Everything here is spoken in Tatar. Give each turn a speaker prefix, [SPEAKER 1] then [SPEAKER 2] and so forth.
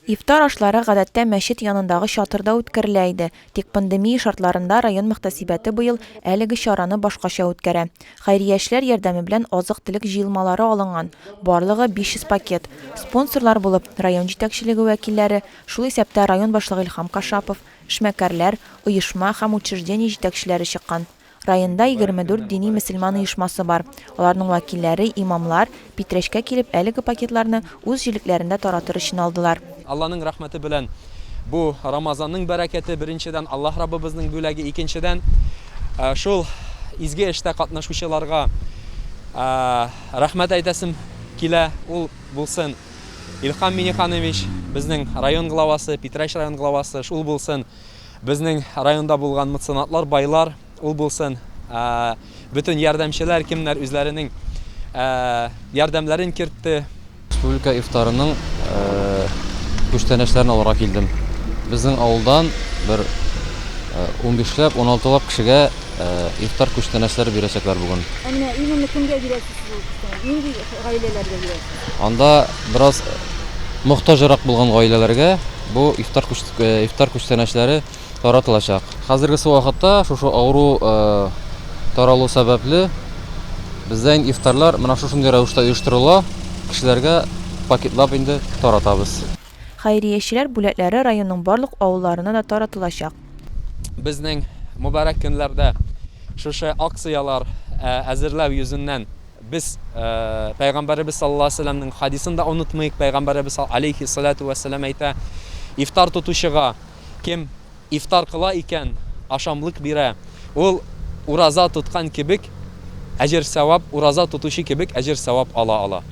[SPEAKER 1] Ифтар ашлары гадәттә мәчет янындагы чатырда үткәрелә иде, тик пандемия шартларында район мөхтәсибәте быел әлеге чараны башкача үткәрә. Хәйрия эшләр ярдәме белән азык-төлек җыелмалары алынган, барлыгы 500 пакет. Спонсорлар булып, район җитәкчелеге вәкилләре, шул исәптә район башлыгы Илһам Кашапов, эшмәкәрләр, оешма һәм учреждение җитәкчеләре чыккан. Районда егерме дүрт дини-мөселман оешмасы бар. Аларның вәкилләре, имамлар, Питрәчкә килеп, әлеге пакетларны үз җилекләрендә таратыр өчен алдылар. Алланың рәхмәте
[SPEAKER 2] белән бу Рамазанның бәрәкәте, беренчедән, Аллаһ Раббыбызның бүләге, икенчедән, шул изге эштә катнашучыларга рәхмәт әйтәсем килә. Ул булсын Илһам Миңнеханович, безнең район главасы, Питрәч район главасы, шул булсын, Безнең районда булган меценатлар, байлар ул булсын, бөтен ярдәмчеләр, кемнәр үзләренең ярдәмнәрен кертте. Республика
[SPEAKER 3] ифтарының күчтәнәчләрен алырга килдем. Безнең авылдан бер унбишләп, уналтылап кешегә ифтар күчтәнәчләре бирәчәкләр бүген. Ә менә именно кемгә
[SPEAKER 4] бирәсез бу күчтәнәч? Нинди гаиләләргә бирәсез? Анда бераз
[SPEAKER 3] мохтаҗрак булган гаиләләргә. Бу ифтар ифтар күчтәнәчләре таратылачак. Хәзергесе вакытта шушы авыру таралу сәбәпле бездә инде ифтарлар менә шушындый рәвештә оештырыла, кешеләргә пакетлап инде таратабыз. Хәйриячеләр
[SPEAKER 1] бүләкләре районның барлык авылларына да таратылачак. Безнең
[SPEAKER 2] мөбарәк көннәрдә шушы акцияләр әзерләү йөзеннән, Без Пәйгамбәребез саллаллаһу алейһи ва сәлләмнең хәдисен дә онытмыйк, Пәйгамбәребез сал алейһи салату ва сәлам әйтә, Ифтар тотучыга, кем ифтар кыла икән, ашамлык бирә, ул ураза тоткан кебек әҗер-сәвап, ураза тотучы кебек әҗер-сәвап ала ала.